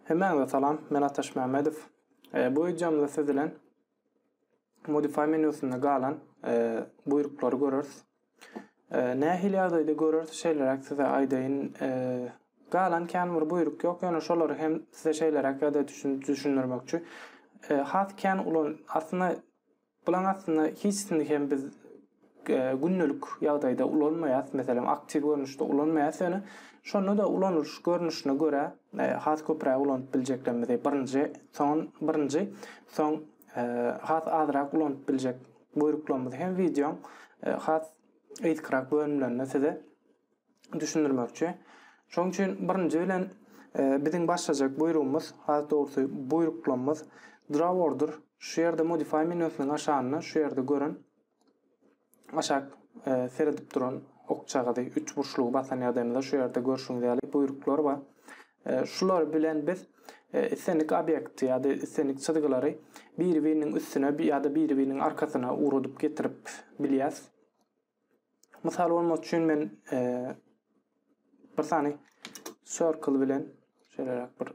Hemmäňize salam, men Ataş Mämmedow. Bu wideomyzda siz bilen Modify menýusynda galan buýruklary göreris. Nähili ýagdaýda göreris, şeýleräk size aýdaýyn. Galan kän bir buýruk ýok, ýöne şolary hem size şeýleräk ýa-da düşündirmekçi. Has kän ulan, aslynda Bulaň aslynda hiçsini hem biz gündelik ýagdaýda ulanmaýas, meselem aktiw görnüşde ulanmaýas ýöne şonda-da ulanylyş görnüşine görä has köpräk ulanyp biljeklerimizi birinji, soň birinji, soň has azrak ulanyp biljek buýruklarymyzy hem wideoň has gysgyrak bölümlerinde size düşündirmekçi. Şonuň üçin birinji bilen biziň başlajak buýrugymyz, has dogrusy buýruklamymyz draw order. Şu ýerde modify menýusynyň aşagynda şu ýerde gören aşak seredip duran okçagazy üç burçlugy basan ýagdaýymyzda şu ýerde görşüňiz ýaly buýruklar bar. Şular bilen biz islendik obýekti ýa-da islendik çyzgylary biri-biriniň üstüne ýa-da biri-biriniň arkasyna ugradyp getirip bilýäs. Mysal bolmak üçin men bir sany circle bilen şeýleräk bir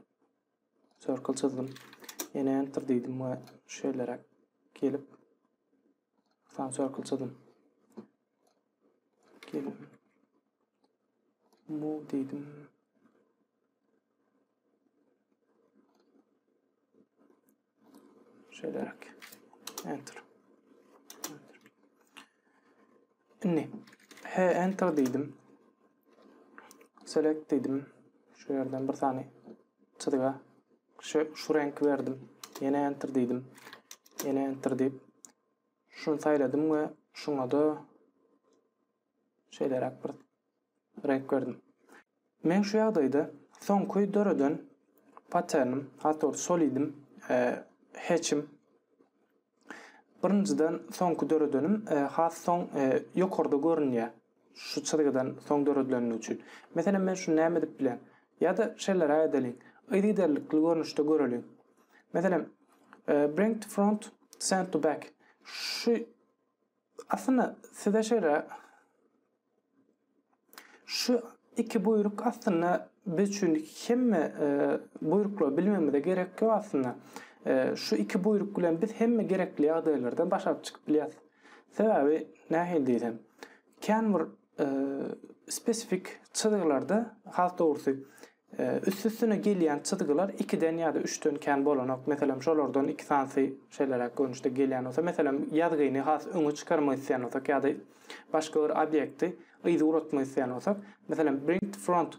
circle çyzdym. Ýene enter diýdim we şeýleräk gelip bir sany circle çyzdym. Gelip move diýdim. Şeýleräk. Enter. Enter. Indi he enter diýdim. Select diýdim. Şu ýerden bir sany çyzga şu, şu renk berdim. Ýene enter diýdim. Ýene enter diýip şuny saýladym we şuňa da Şeýleräk bir reňk berdim. Men şu ýagdaýda soňky döreden patternim, has dogry solidim, e, heçim. Birinjiden soňky döredenim e, has soň e, ýokarda görünýär. Şu çyzgydan soň döredileni üçin. Meselem men şuny näme edip bilen? Ýa-da şeýleräk edeliň. Yzygiderlikli görnüşde göreliň. Meselem, e, bring to front, send to back. Şu Aslynda size şeýle Şu iki buýruk aslynda biz üçin hemme buýruklary bilmegimize gerek ýok aslynda. Şu iki buýruk bilen biz hemme gerekli ýagdaýlardan başaryp çykyp bilýäris. Sebäbi nähili diýsem, kän bir spesifik çyzgylarda has dogrusy Üst-üstüne gelýän çyzgylar ikiden ýa-da üçden kän bolanok. Meselem, şolardan iki sanysy şeýleräk görnüşde gelýän bolsa, meselem, ýazgyny has öňe çykarmak isleýän bolsak ýa-da başga bir obýekti yza ugratmak isleýän bolsak, meselem, bring to front,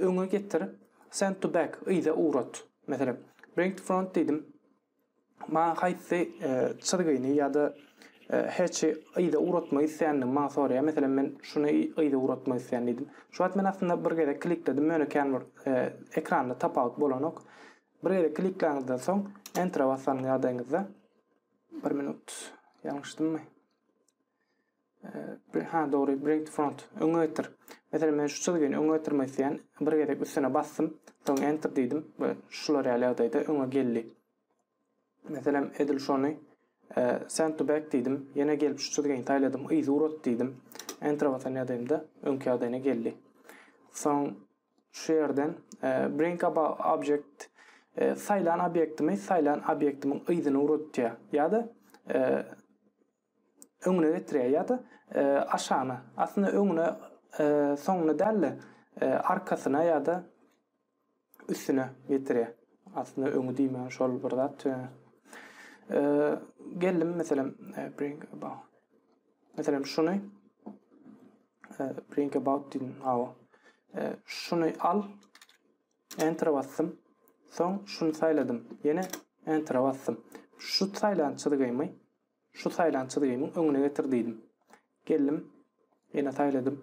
öňe getir, send to back, yza ugrat. Meselem, bring to front diýdim. Maňa haýsy çyzgyny ýa-da heçi yza ugratmak isleýändigimi maňa soraýar. Meselem, men şuny yza ugratmak isleýän diýdim. Şu wagt men aslynda bir gezek klikledim, ýöne kän bir ekranda tapawut bolanok. Bir gezek klikläňizden soň, Enter-e basan ýagdaýyňyzda, bir minut, ýalňyşdymmy? Ha dogry bring to front. Öňe getir. Meselem men şu çyzgyny öňe getirmek isleýän. Bir gezek üstüne basdym. Soň enter diýdim we şular ýaly ýagdaýda öňe geldi. Meselem edil şony send to back diýdim. Ýene gelip şu çyzgyny saýladym. Yzy urat diýdim. Enter basan ýagdaýymda öňki ýagdaýyna geldi. Soň şu ýerden bring up object saýlan obýektimi saýlan obýektimiň yzyny uratýar. Ýa-da öňüne getirýär ýa-da e, aşagyna. Aslynda öňüne, e, soňuna däl-de, e, arkasyna ýa-da üstüne getirýär. Aslynda öňi diýmän şol bir zat. E, e geldim meselem e, bring about. Meselem şuny e, bring about diýdim. Awa. E, şuny al. Enter basdym. Soň şuny saýladym. Ýene enter basdym. Şu saýlan çyzgymy Şu saýlan çyzgymyň öňüne getir diýdim. Geldim. Ýene saýladym.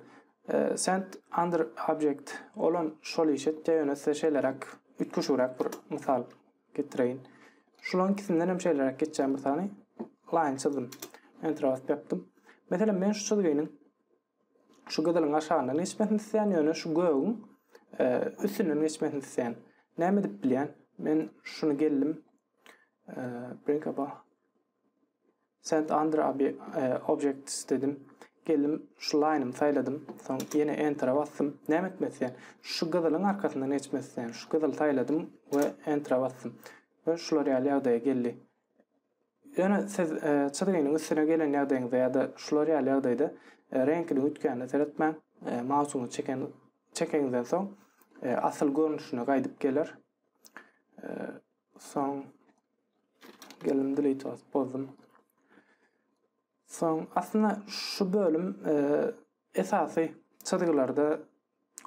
Send under object. Olam şol iş etýär, ýöne size şeýleräk, üýtgeşigräk bir mysal getireýin. Şularyň ikisindenem hem şeýleräk geçýän bir sany line çyzdym. Enter basyp ýapdym. Meselem, men şu çyzgynyň Şu gyzylyň aşagyndan geçmesini isleýän, ýöne şu gögüň üstünden geçmesini isleýän. Näme edip bilýän? Men şuny geldim. Bring up Send under objects dedim. Geldim şu line-ymy saýladym. Soň ýene enter-a basdym. Näme etmek isleýän? Şu gyzylyň arkasyndan geçmek isleýän. Şu gyzyly saýladym we enter-a basdym. We şular ýaly ýagdaýa geldi. Ýöne siz çyzgynyň üstüne gelen ýagdaýyňyzda ýa-da şular ýaly ýagdaýda reňkiniň üýtgänine seretmäň. Mausyňyzy çeken çekeňizden soň asyl görnüşine gaýdyp geler. Soň geldim delete basyp bozdum. Soň aslynda şu bölüm esasy çyzgylarda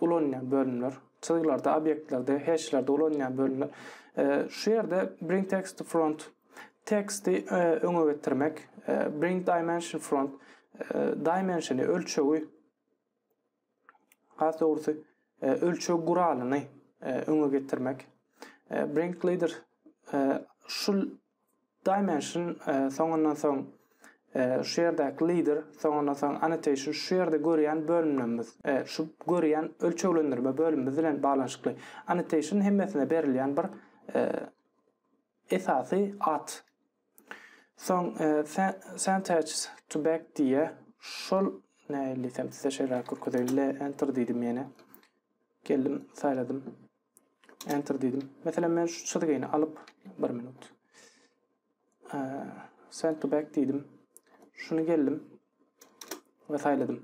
ulanylýan bölümler, çyzgylarda, obýektlerde, heşlerde ulanylýan bölümler. Şu ýerde bring text to front teksti öňe getirmek, bring dimension front dimensiony ölçegi has dogrusy ölçeg guralyny öňe getirmek. Bring leader şu Dimension, soňundan soň şu ýerdäki leader, soňundan soň annotation şu ýerde görýän bölümlerimiz, şu görýän ölçeglendirme bölümimiz bilen baglanyşykly. Annotation hemmesine berilýän bir esasy at. Soň Senteces to back diýýär. Şol nähili diýsem size şeýle görkezeýin. Enter diýdim ýene. Geldim, saýladym. Enter diýdim. Meselem men şu çyzgyny alyp, bir minut. Send to back diýdim. Şuny geldim we saýladym.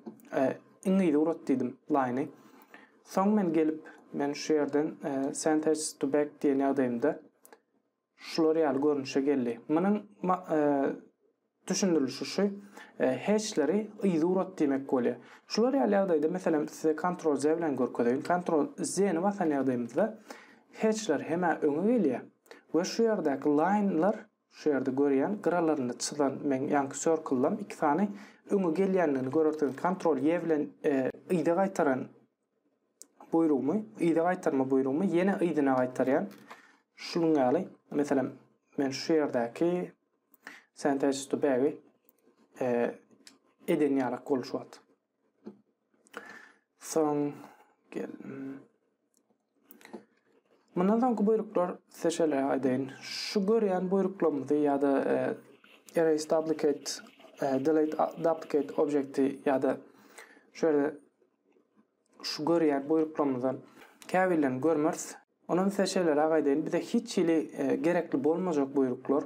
Iň ýygy urat diýdim line-y. Soň men gelip, men şu ýerden send to back diýen ýagdaýymda Şular ýaly görnüşe geldi. Munuň düşündirilişi şu, heçleri yzurat diýmek bolýar. Şular ýaly ýagdaýda, meselem, size Ctrl Z bilen görkezeýin. Ctrl Z-ni basan ýagdaýymyzda heçler hem-ä öňe gelýär we şu ýerdäki laýnlar, şu ýerde görýän gyralaryny çyzan meň ýaňky circle-lam iki sany öňe gelýändigini görersiňiz. Ctrl Y bilen yza gaýtaran buýrugymy, yza gaýtarma buýrugymy ýene yzyna gaýtarýan. Şunuň ýaly, meselem, men şu ýerdäki sentence to bag eden ýaly gol şu wagt. Soň gel. Mundan soňky buýruklar size şeýle aýdaýyn. Şu görýän buýruklarymyzy ýa-da erase duplicate, delete duplicate objekti ýa-da şu ýerde Şu görýän buýruklarymyzdan käbirlerini görmeris. Onam size şeýleräk aýdaýyn, bize hiç hili gerekli bolmajak buýruklar,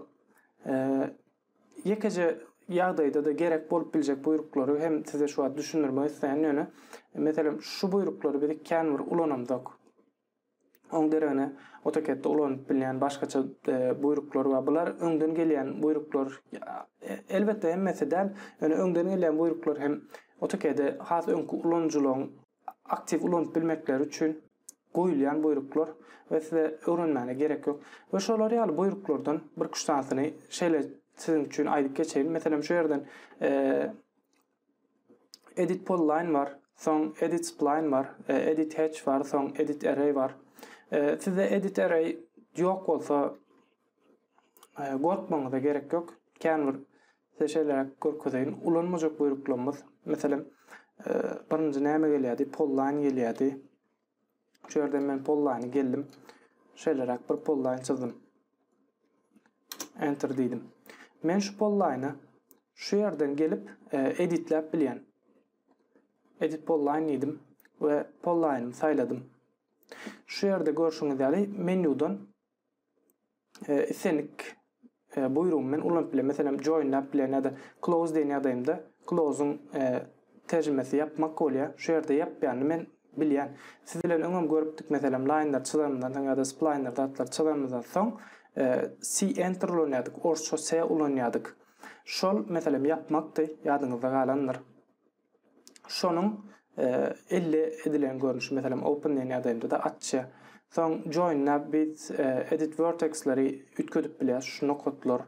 ýekeje ýagdaýda-da gerek bolup biljek buýruklary hem size şu wagt düşündirmek isleýän, ýöne, meselem, şu buýruklary biz känbir ulanamzok. Oň deregine AutoCAD-de ulanyp bilýän başgaça buýruklar bar. Bular öňden gelýän buýruklar. Elbetde hemmesi däl. Ýöne öňden gelýän buýruklar hem AutoCAD-i has öňki ulanyjylaryň aktiw ulanyp bilmekleri üçin goýulýan buýruklar we size öwrenmäne gerek ýok. We şolar ýaly buýruklardan birküç sanysyny şeýle siziň üçin aýdyp geçeýin. Meselem şu ýerden Edit poly line bar, soň edit spline bar, edit hatch bar, soň edit array bar. Sizde edit array ýok bolsa, gorkmaňyza gerek ýok. Kän bir size şeýleräk görkezeýin. Ulanmajak buýruklarymyz, meselem, birinji näme gelýärdi? Poly line gelýärdi. Şu ýerden men pollaýny geldim. Şeýleräk bir pollaýn çyzdym. Enter diýdim. Men şu pollaýny şu ýerden gelip e, editläp bilýän. Edit pollaýn diýdim we pollaýnymy saýladym. Şu ýerde görşüňiz ýaly menýudan islendik buýrugy men ulanyp bilen. Meselem, joinläp bilen ýa-da close diýen ýagdaýymda close-yň terjimesi ýapmak bolýar. Şu ýerde ýapýanyny men bilýän. Siz bilen öňem görüpdik, meselem, laýnlar çyzanymyzdan soň ýa-da splaýner zatlary çyzanymyzdan soň C enter ulanýardyk, orsça C ulanýardyk. Şol, meselem, ýapmakdy, ýadyňyzda galandyr. şonuň elde edilen görnüşi, meselem, OpenNN ýagdaýynda-da atça. Soň join-a biz edit vertex-leri üýtgedip bilýäs, şu nokatlar.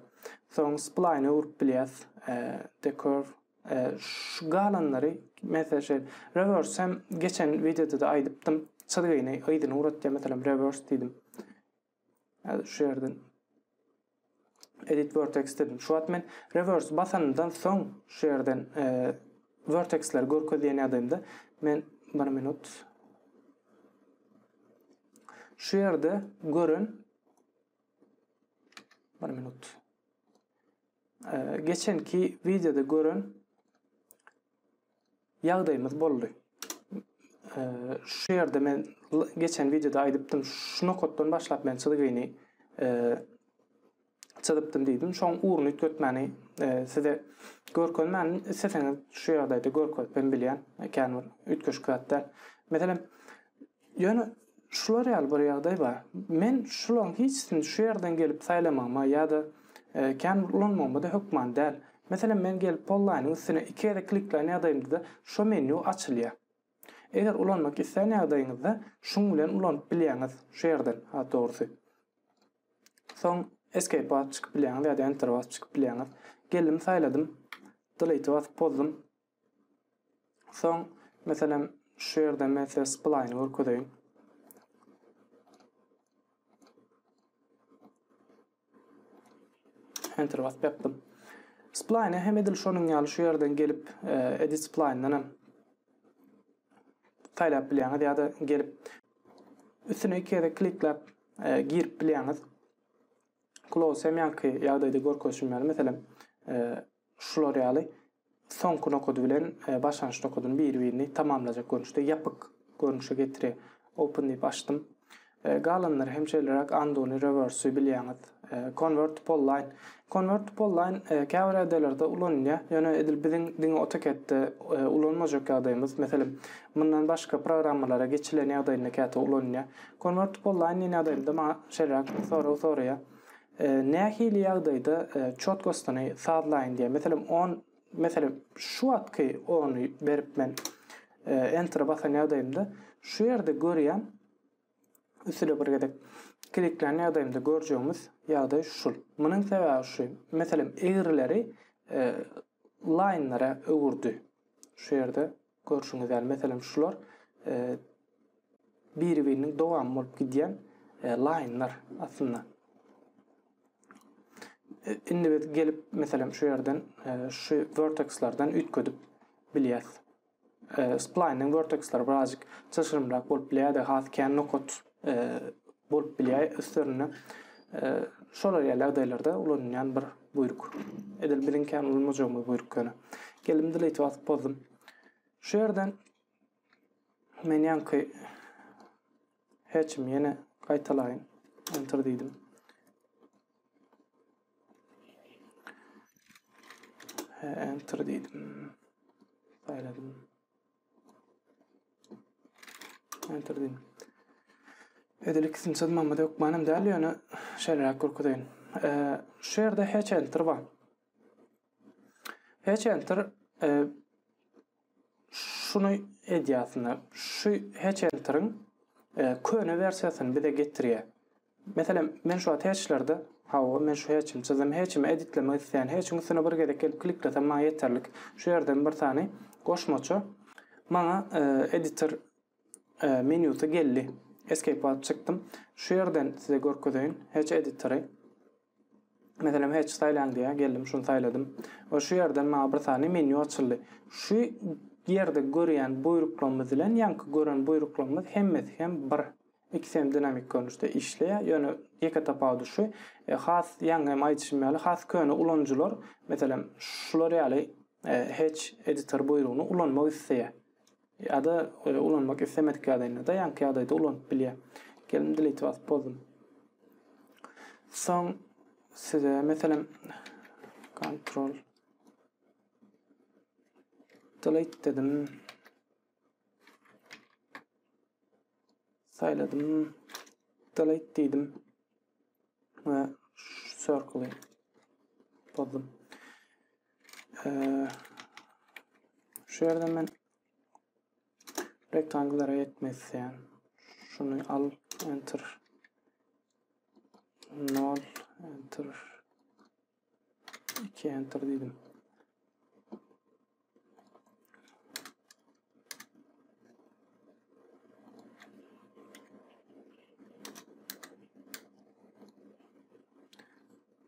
Soň spline-e urup bilýäs, decurve. Şu galanlary, meselem, şeýle, reverse hem geçen wideoda-da aýdypdym, çyzgyny yzyna ugratýar, meselem, reverse diýdim. Häzir şu ýerden edit vertex dedim. Şu wagt men reverse basandan soň şu ýerden e, vertexleri görkezýän ýagdaýymda men 1 minut şu ýerde gören 1 minut e, geçenki wideoda gören Ýagdaýymyz boldy. Şu ýerde men geçen wideoda aýdypdym, şu nokatdan başlap men çyzgyny çyzypdym diýdim. Şoň ugruny üýtgetmäni size görkezmänin, isleseňiz şu ýagdaýda görkezip hem bilýän, kän bir üýtgeşik zat däl. Meselem, Ýöne şular ýaly bir ýagdaý bar. Men şularyň hiçisini şu ýerden gelip saýlamagyma ýa-da kän bir ulanmagyma-da hökman däl. Meselem, men gelip Polline-iň üstüne iki gezek kliklän ýagdaýymda-da şo menýu açylýar. Eger ulanmak islän ýagdaýyňyzda şuň bilen ulanyp bilýäňiz şu ýerden, has dogrusy. Soň Escape basyp çykyp bilýäňiz ýa-da Enter basyp çykyp bilýäňiz. Geldim saýladym. Delete basyp pozdum. Soň, meselem, şu ýerde men size splaýny görkezeýin. Enter basyp ýapdym. Splaýny hem edil şonuň ýaly şu ýerden gelip, e, edit splaýndan hem saýlap bilýäňiz ýa-da gelip üstüne iki gezek klikläp e, girip bilýäňiz. Close hem ýaňky ýagdaýda görkezişim ýaly, meselem, e, Şular ýaly soňky nokady bilen başlangyç nokadyny biri-birini tamamlajak görnüşde ýapyk görnüşe getirýär. Open diýip açdym. Galanlary hem şeýleräk undo-ny, reverse-i bilýäňiz. Convert to polyline. Convert to polyline käbir ýagdaýlarda ulanylýar, ýöne edil biziň diňe AutoCAD-de ulanmajak ýagdaýymyz, meselem, mundan başga programmalara geçilen ýagdaýynda käte ulanylýar. Convert to polyline diýen ýagdaýymda maňa şeýleräk sorag soraýar. Nähili ýagdaýda çotkostyny sazlaýyn diýýär. Meselem, on, meselem, şu wagtky ony berip men Enter-e basan ýagdaýymda şu ýerde görýän, üstüne bir gezek kliklän ýagdaýymda görjegimiz ýagdaý şul. Munuň sebäbi şu, meselem, egrileri laýnlara öwürdi şu ýerde. Görşüňiz ýaly, meselem, şular biri-biriniň dowamy bolup gidýän laýnlar aslynda. Indi biz gelip, meselem, şu ýerden, şu vertekslerden üýtgedip bilýäs. Splaýnyň verteksleri birazjyk çylşyrymrak bolup bilýär-de, has kän nokat e, bolup bilýär üstlerinde. E, şolar ýaly ýagdaýlarda ulanylýan bir buýruk. Edil biziň kän ulanmajagymyz buýruk ýöne. Geldim delete basyp bozdum. Şu ýerden men ýanky hatchimi ýene gaýtalaýyn. Enter diýdim. Enter diýdim. Saýladym. Enter diýin. Edil ikisini çyzmamyz hökmanam däl, ýöne şeýleräk görkezeýin. Şu ýerde hatch enter bar. Hatch enter e, şuny edýär aslynda. Şu hatch enteriň e, köne wersiýasyny bize getirýär. Meselem, men şu wagt heçlerde, hawa, men şu heçim, çyzym heçimi editlemek isleýän, heçiň üstüne bir gezek gelip kliklesem maňa ýeterlik. Şu ýerden bir sany goşmaça maňa editor menýusy geldi. Escape basyp çykdym. Şu ýerden size görkezeýin heç editory. Meselem hatch saýlaň diýýär, geldim şuny saýladym we şu ýerden maňa bir sany menýu açyldy. Şu ýerde görýän buýruklarymyz bilen ýaňky gören buýruklarymyz hemmesi hem bir. Ikisi hem dinamik görnüşde işleýär, ýöne ýeke tapawudy şu, has ýaňy hem aýdyşym ýaly has köne ulanyjylar, meselem, şular ýaly hatch editor buýrugyny ulanmak isleýär. Ýa-da ulanmak islemedik ýagdaýynda-da ýaňky ýagdaýda ulanyp bilýär. Gelin delete basyp bozdum. Soň size meselem kontrol delete dedim. Saýladym. Delete diýdim. we circle bozdum. Şu ýerde men rektanglara ýetmek isleýän. Şuny al, enter. 0, enter. Enter diýdim.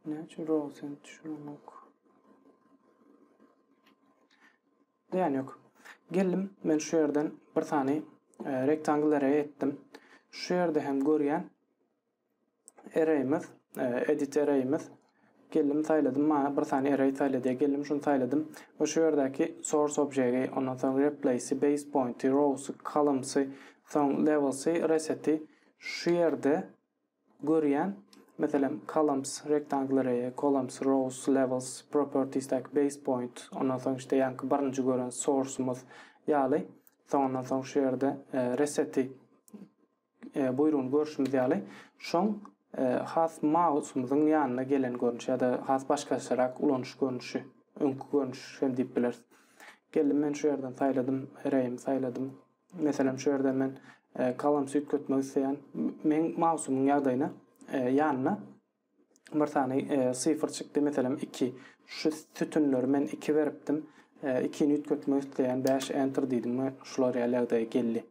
Ne üçin rosen düşünmek? Yani yok. Geldim ben şu yerden bir tane e, rektangl array ettim. Şu yerde hem görýän Ereýimiz, Edit ereýimiz. Geldim saýladym, maňa bir sany ereý saýla diýýär. Geldim şuny saýladym we şu ýerdäki source objegi, ondan soň replace-i, base point-i, rows-y, columns-y, soň levels-y, reset-i şu ýerde görýän. Meselem, columns, rectangle array-i, columns, rows, levels, properties-däki base point, ondan soň işte ýaňky birinji gören source-ymyz ýaly. Soňundan soň şu ýerde reset-i. buýrugyny görşümiz ýaly, şoň has mausumyzyň ýanyna gelen görnüşi ýa-da has başgaçarak ulanyş görnüşi, öňki görnüş hem diýip bileris. Geldim men şu ýerden saýladym, reýimi saýladym. Meselem, şu ýerden men kalamsy üýtgetmek isleýän. Meň mausumyň ýagdaýyna, ýanyna bir sany sifr çykdy, meselem iki. Şu sütünleri men iki beripdim. Ikini üýtgetmek isleýän bäş enter diýdim we şular ýaly ýagdaý geldi.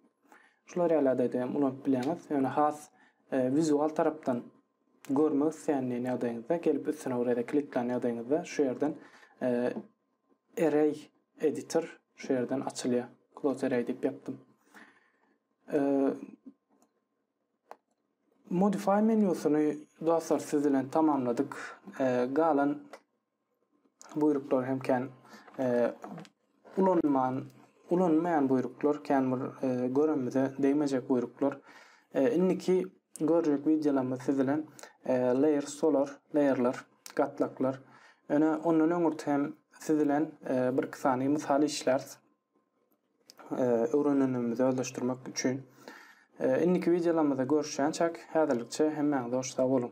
Şular ýaly ýagdaýda hem ulanyp bileňiz. Ýöne has wizual tarapdan görmek isleýän diýen ýagdaýyňyzda gelip üstüne bir ýerde kliklän ýagdaýyňyzda şu ýerden array editor şu ýerden açylýar. Close array diýip ýapdym. Modify menýusyny dostlar siz bilen tamamladyk. Galan buýruklar hem kän ulanman ulanmaýan buýruklar, kän bir göremize degmejek buýruklar. Indiki görjek wideolarymyz siz bilen layer solar, layerler, gatlaklar. Ýöne ondan öňürti hem siz bilen bir-iki sany mysal işläris. öwrenenimizi özleşdirmek üçin. Indiki wideolarymyzda görüşýänçäk häzirlikçe hemmäňize hoş sag boluň.